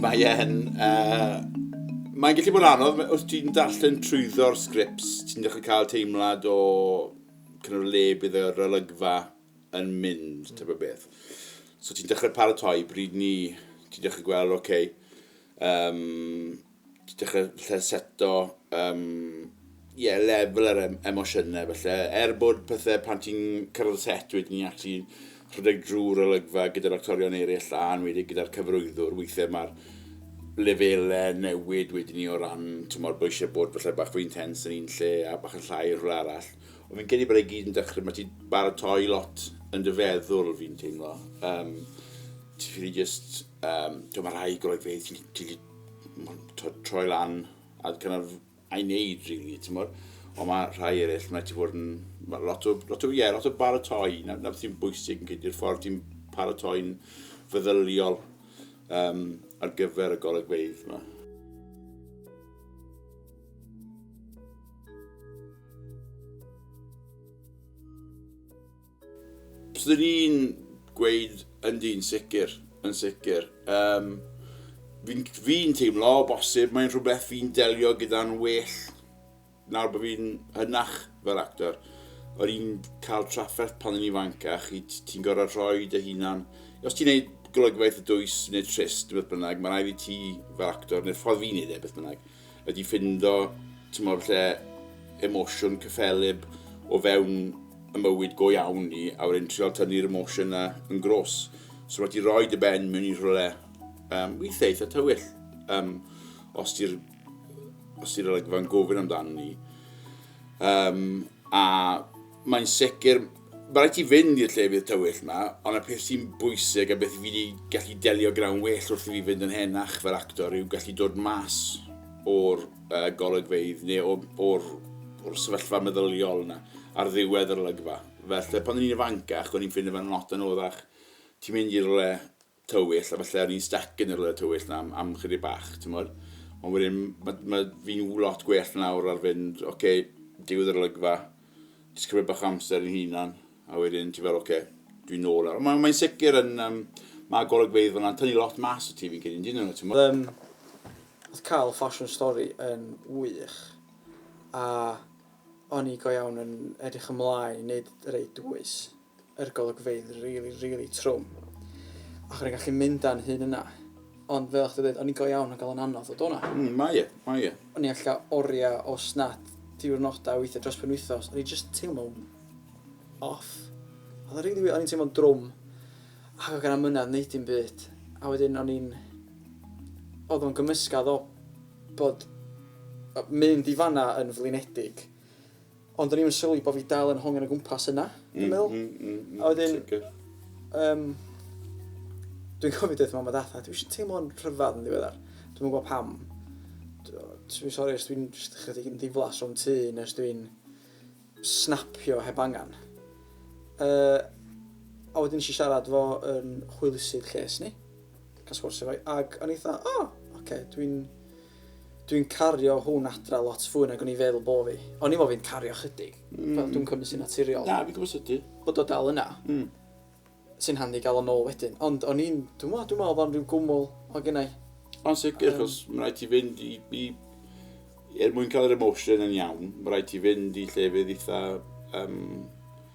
Mae e'n... Uh, mae'n gallu bod yn anodd, os ti'n darllen trwyddo'r sgrips, ti'n dechrau cael teimlad o cynnyr le bydd yr olygfa yn mynd, mm. tyfa beth. So ti'n dechrau paratoi, bryd ni, ti'n dechrau gweld, oce, okay, um, dechrau falle seto, um, yeah, lefel yr em emosiynau falle. Er bod pethau pan ti'n cyrraedd set wedyn ni'n actually rhedeg drwy'r olygfa gyda'r actorion eraill a wedi gyda'r cyfrwyddwr, weithiau mae'r lefelau newid wedyn ni o ran, ti'n modd, bod eisiau bod falle bach fwy intens yn un lle a bach yn llai yn rhywle arall. Ond fi'n credu bod ei gyd yn dechrau, mae ti'n baratoi lot yn dy feddwl fi'n teimlo. Um, ti'n ffili just, um, ti'n mae rhai golygfeydd ti'n troi lan a kind of a'i wneud rili, ti'n bod? Ond mae rhai eraill, mae ti fod yn... Mae lot o, lot o, yeah, lot o baratoi, na, na beth sy'n bwysig yn cyd ffordd ti'n paratoi'n feddyliol um, ar gyfer y golygfeydd yma. Byswn i'n gweud yndi, yn sicr, yn sicr. Yym, fi'n fi'n teimlo, o bosib, mae'n rhywbeth fi'n delio gyda'n well nawr bod fi'n hynach fel actor. O'n i'n cael trafferth pan o'n i'n fanc a chi ti'n gorfod rhoi dy hunan... Os ti'n neud golygfeydd y dwys neu trist neu beth bynnag, mae'n rhaid i ti fel actor, neu'r ffordd fi'n neud e, beth bynnag, ydi ffindo t'mod lle emosiwn cyffelyb o fewn y mywyd go iawn ni a wedyn trial tynnu'r emosiwn 'na yn gros. So ma' ti roi dy ben mewn i rhywle um, weithiau eitha tywyll um, os ti'r os ti'r olygfa'n gofyn amdano ni. Um, a mae'n sicr Mae rhaid ti fynd i'r llefydd tywyll 'ma, ond y peth sy'n bwysig a beth fi 'di gallu delio gyda'n well wrth i fi fynd yn henach fel actor yw gallu dod mas o'r uh, golygfeydd neu o'r, or, or sefyllfa meddyliol yna ar ddiwedd yr olygfa. Felly, pan o'n i'n ifancach, o'n i'n ffind y fe'n lot anoddach. Ti'n mynd i'r le, tywyll, a falle o'n i'n styc yn y rhywle tywyll 'na am, am chydig bach, timod. Ond wedyn, mae ma fi'n lot gwell nawr ar fynd, oce, okay, digwydd yr olygfa, jyst cymryd bach amser yn hunan, a wedyn ti fel, oce, okay, dwi'n nôl nawr. Mae'n mae sicr yn, um, mae golygfeidd fyna'n tynnu lot mas o ti fi'n cydyn, dyn nhw, ti'n mwyn. Um, oedd cael fashion story yn wych, a o'n i go iawn yn edrych ymlaen i wneud rei dwys. yr golygfeydd rili rili trwm ac o'n i'n gallu mynd a'n hun yna ond fel o'ch di dweud o'n i'n go iawn ac oedd o'n anodd ddod o'na. Mm, mae e, mae e. O'n i'n allu oriau os nad diwrnodau weithiau dros penwythnos, o'n i'n just teimlo'n off. Oedd o'n rili wir, o'n i'n teimlo'n drwm ac oedd gen mynadd wneud dim byd a wedyn o'n i'n... oedd o'n gymysgedd o bod mynd i fanna yn flinedig Ond o'n i'm yn sylwi bo' fi dal yn hongian o gwmpas yna, dwi'n meddwl. Mm, mm, mm, mm. A wedyn... Sicr. Um, dwi'n cofio dweud mam a dad, dwi eisiau teimlo'n rhyfedd yn ddiweddar. Dwi'n meddwl pam. Dwi'n sori os dwi'n chydig yn ddiflas o'n tu, neu os dwi'n snapio heb angen. Uh, a wedyn eisiau siarad fo yn hwylusydd lles ni, cael sgwrs efo'i, ac o'n eitha, o, oh, oce, okay, dwi'n Dwi'n cario hwn adra lot fwy nag o'n i'n feddwl bo fi. O'n i'n meddwl fi'n cario chydig. Fel dwi'n cymryd sy'n naturiol. Na, fi'n gwybod sut ti. Bod o dal yna. Mm. Sy'n handi gael o nôl wedyn. Ond o'n i'n, dwi'n meddwl, dwi'n meddwl bod o'n rhyw gwmwl o gynnau. Ond sicr, um, mae rhaid ti fynd i, i er mwyn cael yr emotion yn iawn, mae rhaid ti fynd i llefydd eitha um,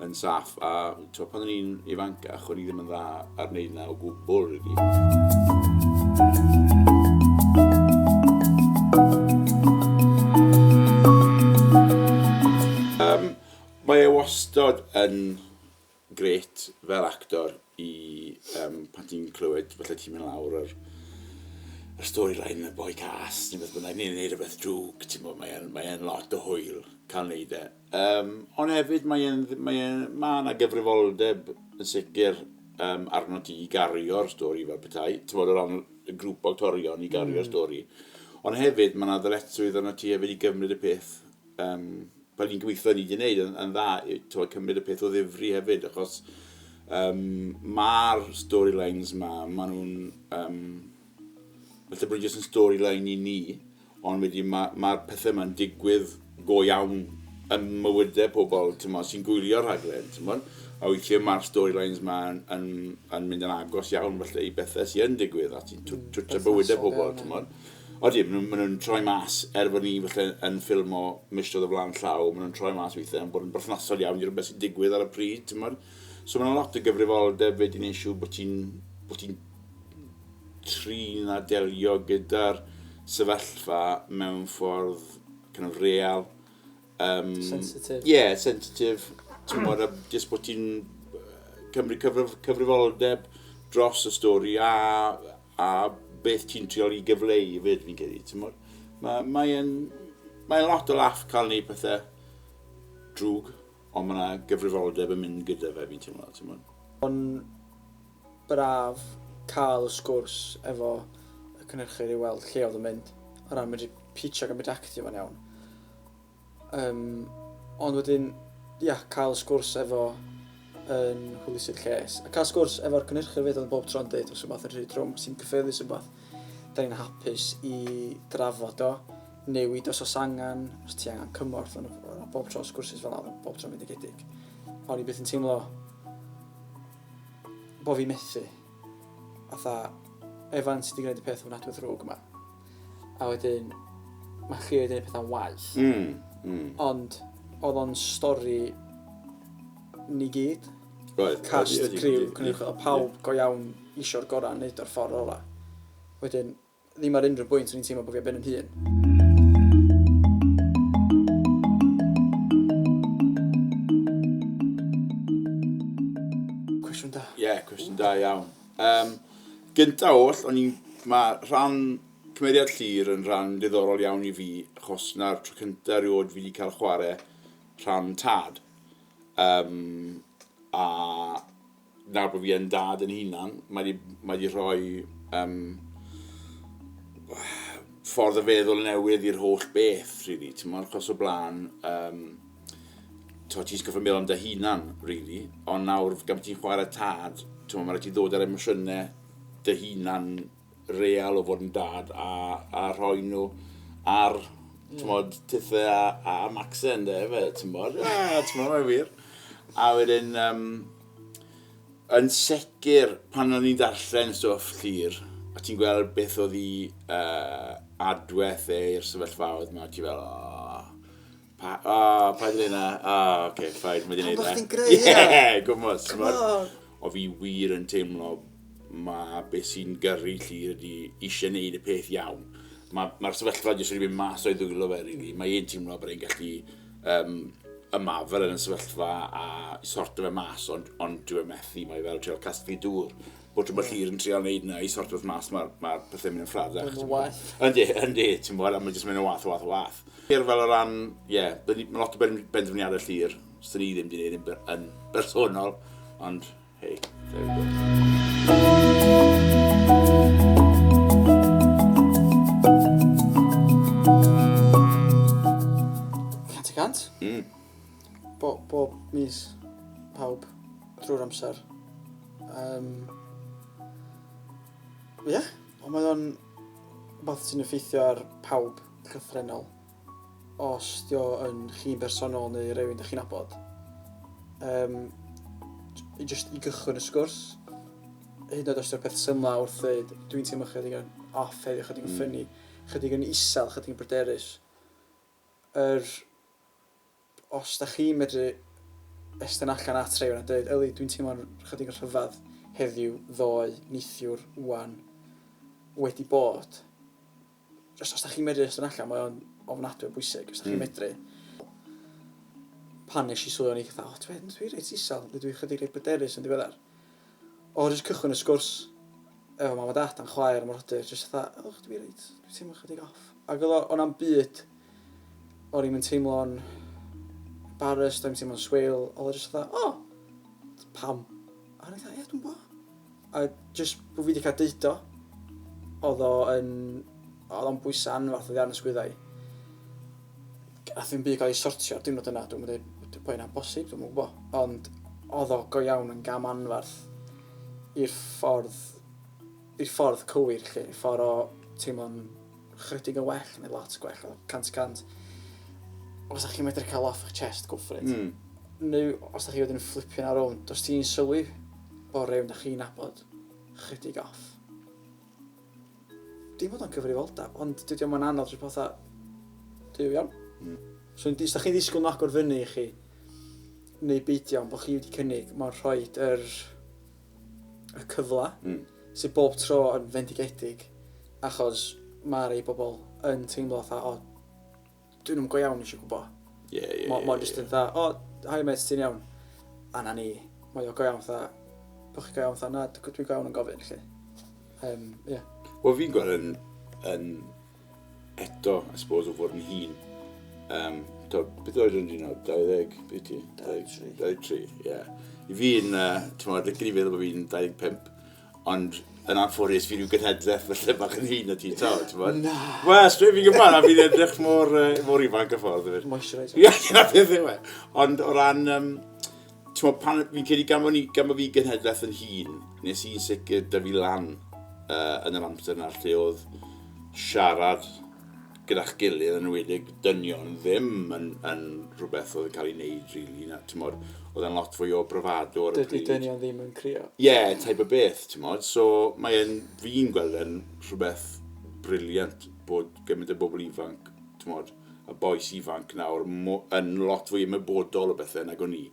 yn saff a t'o' pan o'n i'n ifancach o'n i ddim yn dda ar wneud 'na o gwbwl rili. Mae e wastod yn grêt fel actor i yym pan ti'n clywed falle ti'n mynd lawr yr yr story line y boi cas ne' beth bynnag ne' neud rwbeth drwg t'mo' mae e'n mae e'n lot o hwyl ca'l neud e. Yym, ond hefyd mae e'n dd- mae e'n... Ma' 'na gyfrifoldeb yn sicr yym arnot ti i gario'r stori fel petai, t'mod o ran y grŵp o actorion i gario'r stori. Ond hefyd ma' 'na ddyletswydd arnot ti hefyd i gymryd y peth yym fel ni'n gobeithio ni 'di neud yn yn dda i t'mod cymryd y peth o ddifri hefyd achos yym ma'r storylines 'ma ma' nw'n yym falle bod e jyst yn storyline i ni Ond wedyn ma' ma'r pethe 'ma'n digwydd go iawn ym mywyde pobl, t'mod, sy'n gwylio'r rhaglen, t'mod? A weithie ma'r storylines 'ma yn yn yn mynd yn agos iawn falle i bethe sy yn digwydd a sy'n tw- twtio bywyde pobl, t'mod? Odi, ma' nw'n ma' nw'n troi mas, er bo' ni falle yn ffilmo misoedd o flan llaw, ma' nw'n troi mas weithie yn bod yn berthnasol iawn i rwbeth sy'n digwydd ar y pryd, t'mod? So ma' 'na lot o gyfrifoldeb wedyn neu' siŵr bo' ti'n bo' ti'n trin a delio gyda'r sefyllfa mewn ffordd kind of real. Um, sensitif. Ie, yeah, sensitif. Ti'n bod, a jyst bod ti'n cymryd cyfrif, cyfrifoldeb dros y stori a, a beth ti'n triol i gyfleu i fyd fi'n credu. Ti'n bod, mae'n mae mae lot o laff cael neud pethau drwg, ond mae yna gyfrifoldeb yn mynd gyda fe fi'n teimlo. Ti'n bod. Ond braf cael y sgwrs efo y cynhyrchydd i weld lle oedd yn mynd o ran medru pitch ac yn mynd actio fo'n iawn. Um, ond wedyn, ia, cael y sgwrs efo yn hwylusydd lles. A cael sgwrs efo'r cynhyrchydd fyd oedd bob tro'n dweud os yw'n fath yn rhy drwm, sy'n cyffyrddus yn fath. Da ni'n hapus i drafod o, newid os os angen, os ti angen cymorth, ond bob tro sgwrsys fel yna, bob tro'n mynd i gedig. O'n i beth yn teimlo bo fi methu. Fatha, Evan sydd wedi gwneud y peth ofnadwy ddrwg yma. A wedyn, mae chi wedi gwneud pethau'n waeth. Mm, mm. Ond, oedd o'n stori ni gyd. Roedd. Cast, y criw, cynnig, o pawb go iawn isio'r gorau yn neud o'r ffordd ola. Wedyn, Ddim ar unrhyw bwynt o'n i'n teimlo bod fi ar ben yn hun. Cwestiwn da. Ie, yeah, cwestiwn da iawn. Um, gynta oll, o'n i'n... Mae rhan cymeriad llir yn rhan diddorol iawn i fi, achos na'r tro cynta rioed fi wedi cael chwarae rhan tad. Um, a nawr bod fi yn dad yn hunan, mae di, mae di rhoi um, ffordd o feddwl newydd i'r holl beth, really. Ti'n mwyn, chos o blaen, um, ti'n ti'n sgyffa meddwl am dy hunan, really. Ond nawr, gan bod ti'n chwarae tad, ti'n mwyn, mae rhaid ti ddod ar emosiynau dy hunan real o fod yn dad a a rhoi nhw ar t'mod tithe a a a Macsen ynde fe t'mod a t'mod mae'n wir. A wedyn yym yn sicr pan o'n i'n darllen stwff Llŷr a ti'n gweld beth oedd 'i yy adwaith e i'r sefyllfaoedd 'ma ti fel o! Pa, o, oh, paid yn yna. O, oh, oce, okay, ffaid, mae wedi gwneud e. Pam chdi'n greu hynna? Ie, gwmwys. Come on. O fi wir yn teimlo mae beth sy'n gyrru lli ydy eisiau gwneud y peth iawn. Mae'r ma, sefyllfa jyst wedi mynd mas o'i ddwylo fe, really. Mae e'n teimlo bod e'n gallu um, ymarfer yn y sefyllfa a sorto fe mas, ond, ond dwi'n methu, mae fel treol casglu dŵr. bod rhywbeth yeah. hir yn trial wneud yna i sort of mas mae'r ma pethau mynd yn ffradach. Yn wath. Yndi, yndi, ti'n bod, a mae'n jyst mynd yn wath, wath, wath. Hir fel o ran, ie, yeah, mae lot o ben, benderfyniadau llir, sy'n ni ddim wedi gwneud yn, yn bersonol, ond, hei, there we go. Mm. Bob, bob mis, pawb, drwy'r amser. Um, ie, yeah. ond mae o'n rhywbeth sy'n effeithio ar pawb llythrenol. Os dio yn chi'n bersonol neu rhywun ydych chi'n abod. Um, i just i gychwyn y sgwrs, hyd yn oed os yw'r peth symla wrth ddweud, dwi'n teimlo chydig yn off heddiw, chydig yn mm. ffynnu, chydig yn isel, chydig yn bryderus. Yr er Os dach chi'n medru estyn allan at rhywun a dweud, Yli, dwi'n teimlo'n chydig yn rhyfedd heddiw ddoe, neithiwr, ŵan, wedi bod. Os, os da chi'n medru estyn allan, mae o'n ofnadwy o bwysig. Os da chi'n mm. medru. Pan nes i sylwi o'n i fatha, o, dwi'n dwi reit isel, dwi'n chydig reit bryderus yn ddiweddar. O jyst cychwyn y sgwrs efo mam a dat a'n chwaer am yr hodyr jyst fatha o dw i reit dwi teimlo chydig off ac oedd o o na'm byd o'n i'm yn teimlo'n embarrassed o'n i'm teimlo'n swil oedd o jyst fatha o pam a o'n i fatha ie dwi'n bo a jyst bod fi wedi cael deud o oedd o yn oedd o'n bwysau anferth oddi ar yn sgwyddau Gath ddim byd cael ei sortio ar diwrnod yna, dwi'm yn dweud bod bod hynna'n bosib, dwi'm yn gwybod. Ond oedd o go iawn yn gam anferth i'r ffordd, i'r ffordd cywir, lle, i'r ffordd o teimlo'n chrydig yn well, neu lot gwell, o 100-100. Os ydych chi'n medru cael off eich chest, go for it. Mm. Neu, os ydych chi wedyn yn fflipio na rownd, os ti'n sylwi bod rhywun da chi'n nabod, chrydig off. Dim bod o'n cyfrifoldeb, ond dydy o'm yn anodd jyst bod fatha, duw iawn. Mm. Os chi'n os chi'n ddisgwyl nhw agor fyny i chi, neu beidio, ond bod chi wedi cynnig, mae'n rhoi yr, y cyfle mm. sydd bob tro yn fendigedig, achos mae rei bobl yn teimlo fatha, o, Dwi ddim yn go iawn eisiau gwybod. Ie, ie, ie. Mae'n just yn dda, o, hi mate, ti'n iawn. A na ni, mae o go iawn dda. Bych chi go iawn dda, na, dwi'n go iawn yn gofyn, lle. Um, yeah. Wel, fi'n gweld yn, yn eto, I suppose, o fod yn hun. Um, to, beth oedd yn un o 20, beth ti? 23. 23, ie. Yeah. I fi'n, uh, ti'n meddwl, gynnu feddwl bod fi'n 25, Ond yn anffodus, fi rhyw gynhedleth fy lle bach yn hun o ti, to, ti'n bod? Na! Wel, straight fi'n gyfan, a fi'n edrych mor, uh, mor ifanc y ffordd. Ie, na beth yw e. Ond o ran, um, ti'n bod, pan fi'n credu gan bod, ni, gan bod fi gynhedleth yn hun, nes i'n sicr dy fi lan uh, yn yr amser yna lle oedd siarad gyda'ch gilydd yn enwedig dynion ddim yn, yn rhywbeth oedd yn cael ei wneud really, na, ti'n modd, oedd e'n lot fwy o bravado ar y pryd. Dydy dynion ddim yn crio. Ie, yeah, type o beth, ti'n modd, so mae'n fi'n gweld e'n rhywbeth briliant bod gymaint o bobl ifanc, ti'n modd, a boes ifanc nawr yn lot fwy ymwybodol o bethau nag o'n i.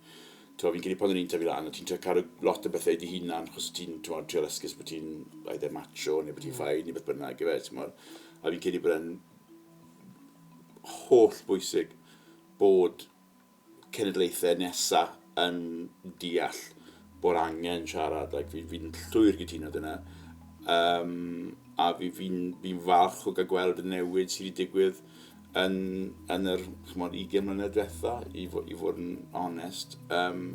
T'mo' fi'n credu pan o'n i'n tyfu lan o' ti'n trio cadw lot o bethe i dy hunan achos o' ti'n t'mod trio lyscus bo' ti'n either macho neu bo' ti'n fine neu beth bynnag ife t'mod? A fi'n credu bod e'n holl bwysig bod cenedlaethau nesa yn deall bod angen siarad ac fi fi'n llwyr gytuno dyna. Um, a fi fi'n fi'n falch o gael gweld y newid sydd wedi digwydd yn, yn yr chmod, 20 mlynedd diwetha, i, fo, i fod yn onest. Um,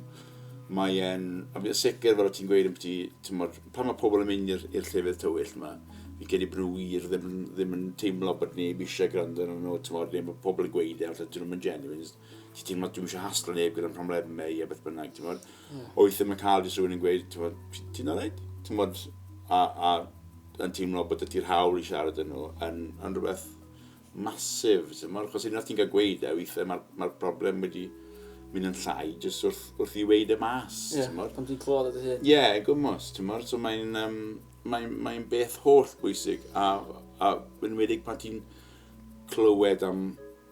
mae e'n... A fi'n sicr, fel o ti'n gweud, yn ti, pan mae pobl yn mynd i'r llefydd tywyll yma, fi gen i brwy i'r ddim, ddim yn teimlo bod neb eisiau gwrando yn nhw, ti'n modd, neb o pobl yn gweud e, allan dyn nhw'n genuine, ti'n teimlo dwi'n eisiau haslo neb gyda'n problemau i a beth bynnag, ti'n modd. Yeah. Oeth yma cael jyst rhywun yn gweud, ti'n modd, ti'n aled? Ti'n modd, a, a yn teimlo bod ydy'r hawl i siarad yn nhw yn, yn rhywbeth massive t'mod achos unwaith ti'n cael gweud e weithiau mae'r mae'r problem wedi mynd yn llai jyst wrth, wrth i weud e mas yeah, t'mod. Ond ti'n clywed o dy hyn. Ie, yeah, gwmwys, t'mod so mae'n um, mae'n mae beth holl bwysig a a yn wedig pan ti'n clywed am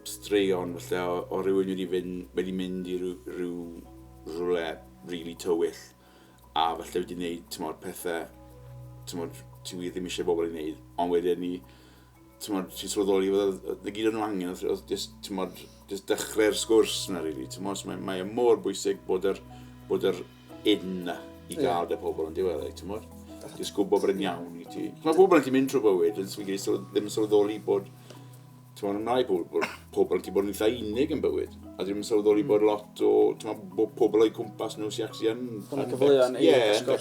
straeon falle o, o rywun wedi fynd wedi mynd i rhyw, rhyw rhywle really tywyll a falle wedi wneud t'mod pethau t'mod ti wir ddim eisiau bobl i wneud ond wedyn ni Tymod, ti'n sylweddoli fod oedd y gyd o'n nhw angen, oedd, oedd just, tymod, just dechrau'r sgwrs yna, really. Tymod, so mae, mae e mor bwysig bod yr, bod yr un na i gael dy pobl yn diweddau, e, tymod. Just gwybod bod yn iawn i ti. Mae pobl yn ti mynd trwy bywyd, yn swydd ddim yn sylweddoli bod, tymod, yn rhai pobl, pobl yn ti bod yn eitha unig yn bywyd. a ddim yn sylweddoli bod lot o bod pobl o'i cwmpas nhw sy'n actually yn... Hwna cyfleoedd yn ei ysgol.